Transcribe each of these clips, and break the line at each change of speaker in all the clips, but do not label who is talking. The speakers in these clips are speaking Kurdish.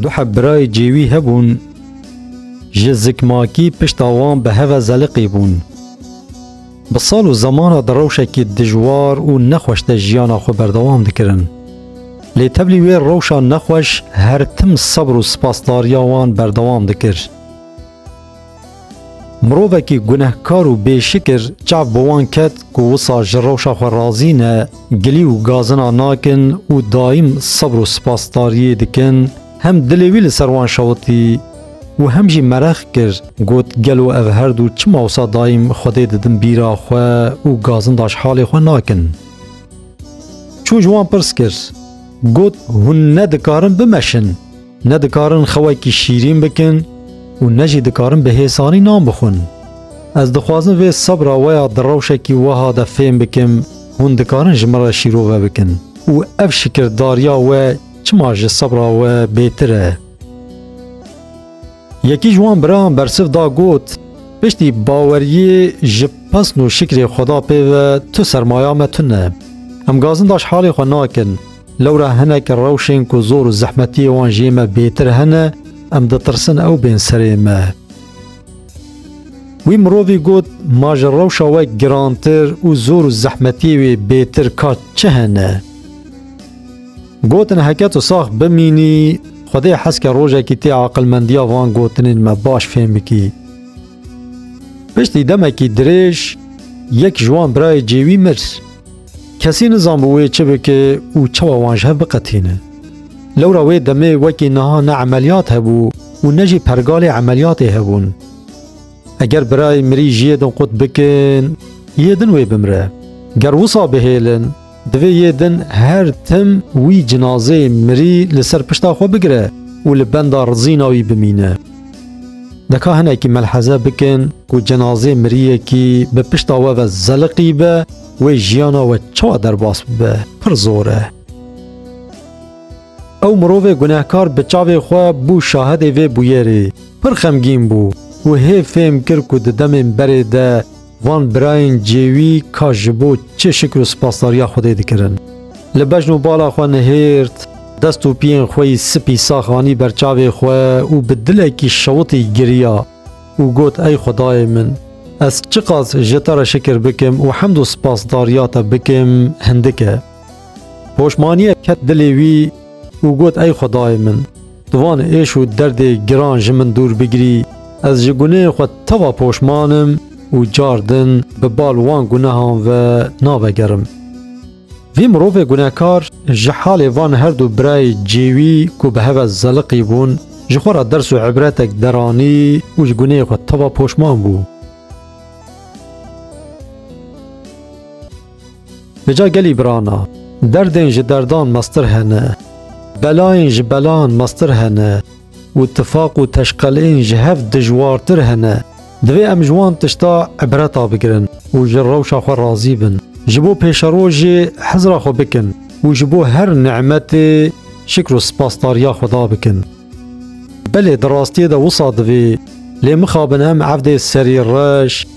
Du heb birayê cêwî hebûn, ji zikmakî pişta wan bi heve zeliqî bûn. Bi sal û zeman re di rewşekî dijwar û nexweş de jiyana xwe berdewam dikirin. Lê teblî wê rewşa nexweş her tim sebr û spasdariya wan berdewam dikir. Mirovekî gunehkar û bêşikir çav bi wan ket ku wisa ji rewşa xwe razî ne, gilî û gazina nakin û daîm sebr û spasdariyê dikin, hem dilê wî li ser wan şewitî û hem jî merex kir, got, Gelo ev her du çima wisa daîm Xwedê didin bîra xwe û gazindaş halê xwe nakin? Çû ji wan pirs kir, got, Hûn ne dikarin bimeşin? Ne dikarin xewekî şîrîn bikin û ne jî dikarin bi hêsanî nan bixwin. Ez dixwazim vê sebra we ya di rewşekî weha de fêm bikim, hûn dikarin ji min re şîrove bikin û ev şikirdariya we çima ji sebra we bêtir e? Yekî ji wan birayan bersiv da got, Piştî baweriyê ji pesn û şikrê Xweda pê ve tu sermaya me tune. Em gazinda ji halê xwe nakin. Lewra hinek rewşên ku zor û zehmetiyê wan jê me bêtir hene, em ditirsin ew bên serê me. Wî mirovî got, Ma ji rewşa we girantir û zor û zehmetiyê wê bêtir ka çi hene? Gotin heke tu sax bimînî, Xwedê heske rojekî tê aqilmendiya van gotinên me baş fêm bikî. Piştî demekî dirêj yek ji wan birayê cêwî mir. Kesî nizanbû wê çi bike û çawa wan ji hev biqetîne. Lewra wê demê wekî niha ne emeliyat hebû û ne jî pergalê emeliyatê hebûn. Eger birayê mirî ji yê din qut bikin, yê din wê bimire. Ger wisa bihêlin, Divê yê din her tim wî cinazeyê mirî li ser pişta xwe bigire û li benda rizîna wî bimîne. Dika hinekî melheze bikin ku cinazê miriyekî bi pişta we ve zeliqî be wê jiyana we çawa derbas bibe pir zor e. Ew mirovê gunehkar bi çavê xwe bû şahidê vê bûyerê. Pir xemgîn bû û hê fêm kir ku di demên berê de Van birayên cêwî ka ji bo çi şikir û spasdariya Xwedê dikirin. Li bejn û bala xwe nihêrt, dest û piyên xwe yî sipî sax anî ber çavê xwe û bi dilekî şewitî giriya û got Ey Xwedayê min, ez çiqas ji te re şikir bikim û hemd û spasdariya te bikim hindik e. Poşmaniyek ket dilê wî û got ey xwedayê min, tu van êş û derdê giran ji min dûr bigirî, ez ji gunehê xwe teva poşman im û car din bi bal wan gunehan ve navegerim. Vî mirovê gunehkar ji halê van her du birayê cê wî ku bi heve zeliqî bûn ji xwe re ders û îbretek deranî û ji gunehê xwe teva poşman bû. Bi ca gelî birana. Derdên ji derdan mestir hene. Belayên ji belan mestir hene û tifaq û teşqelên ji hev dijwartir hene. Divê em ji wan tişta îbreta bigirin û ji rewşa xwe razî bin. Ji bo pêşerojê hizra xwe bikin û ji bo her nimetê şikr û sipasdariya Xweda bikin. Belê di rastiyê de wisa divê lê mixabin em evdê serî reş,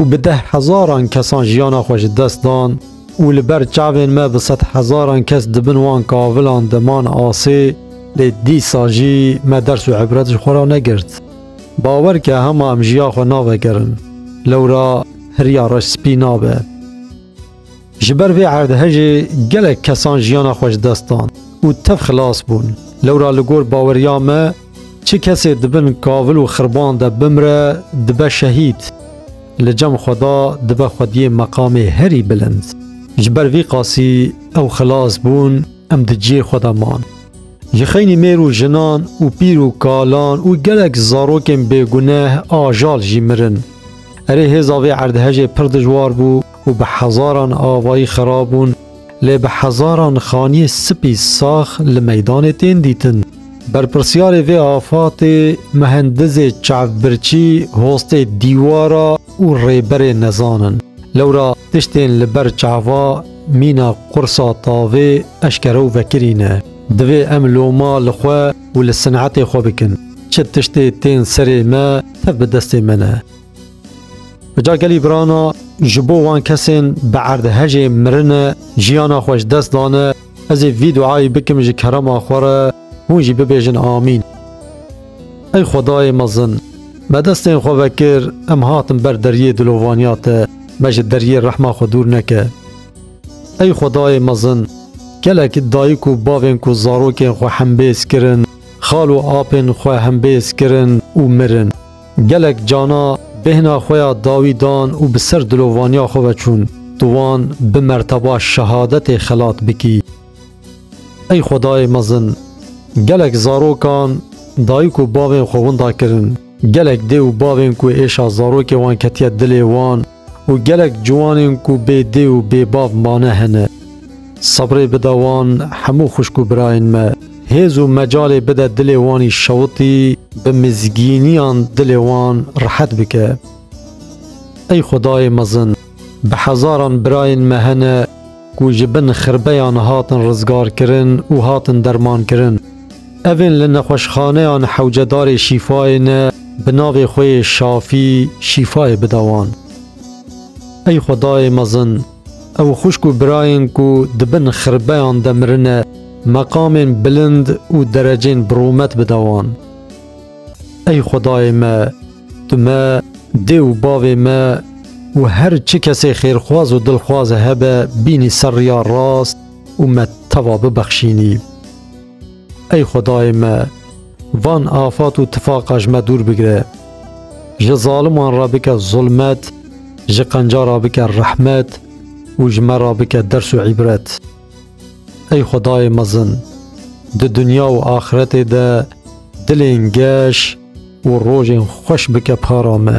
û bi deh hezaran kesan jiyana xwe ji dest dan û li ber çavên me bi sed hezaran kes di bin wan kavilan de man asê, lê dîsa jî me ders û îbret ji xwe re negirt. Bawer ke hema em jiya xwe navegerin, lewra hiriya reş spî nabe. Ji ber vê erdhejê gelek kesan jiyana xwe ji dest dan û tev xilas bûn. Lewra li gor baweriya me çi kesê di bin kavil û xirban de bimre dibe şehîd. Li cem xweda dibe xwediyê meqamê herî bilind. Ji ber vî qasî ew xilas bûn, em di cihê xwe de man. Ji xeynî mêr û jinan û pîr û kalan û gelek zarokên bêguneh ajal jî mirin. Erê hêza vê erdhejê pir dijwar bû. û bi hezaran avayî xera bûn, lê bi hezaran xaniyê spî sax li meydanê tên dîtin. Berpirsyarê vê afatê Muhendizê Çavbirçî, Hostê Dîwara û Rêberê Nezan in. Lewra tiştên li ber çava mîna qursa tavê eşkere û vekirî ne. Divê em loma li xwe û li sinetê xwe bikin. Çi tiştê tên serê me, tev bi destê me ne. Ca gelî birana ji bo wan kesên bi erdhejê mirine jiyana xwe ji dest dane ez ê vî duayê bikim ji kerema xwe re hûn jî bibêjin amîn. Ey xwedayê mezin me destên xwe vekir em hatin ber deriyê dilovaniya te me ji deriyê rehma xwe dûr neke. Ey xwedayê mezin gelek dayik û bavên ku zarokên xwe hembêz kirin xal û apên xwe hembêz kirin û mirin. Gelek cana bêhna xwe ya dawî dan û bi ser dilovaniya xwe ve çûn, tu wan bi merteba şehadetê xelat bikî. Ey Xwedayê mezin, gelek zarokan dayik û bavên xwe winda kirin, gelek dê û bavên ku êşa zarokê wan ketiye dilê wan, Û gelek ciwanên ku bê dê û bê bav mane hene. Sebrê bide wan hemû xwişk û birayên me. Hêz û mecalê bide dilê wanî şewitî bi mizgîniyan dilê wan rihet bike. Ey xwedayê mezin. Bi hezaran birayên me hene. ku ji bin xirbeyan hatin rizgarkirin û hatin dermankirin. Evên li nexweşxaneyan hewcedarê şîfayê ne bi navê xwe yê Şafî şîfayê bide wan. Ey Xwedayê mezin, ew xwişk û birayên ku di bin xirbeyan de mirine meqamên bilind û derecên bi rûmet bide wan. Ey Xwedayê me, tu me, dê û bavê me û her çi kesê xêrxwaz û dilxwaz hebe bînî ser riya rast û me teva bibexşînî. Ey Xwedayê me, van afat û tifaqa ji me dûr bigire. Ji zaliman re bike zulmet, ji qenca re bike rehmet û ji me re bike ders û îbret. Ey Xwedayê mezin! Di dinya û axiretê de dilên geş û rojên xweş bike para me.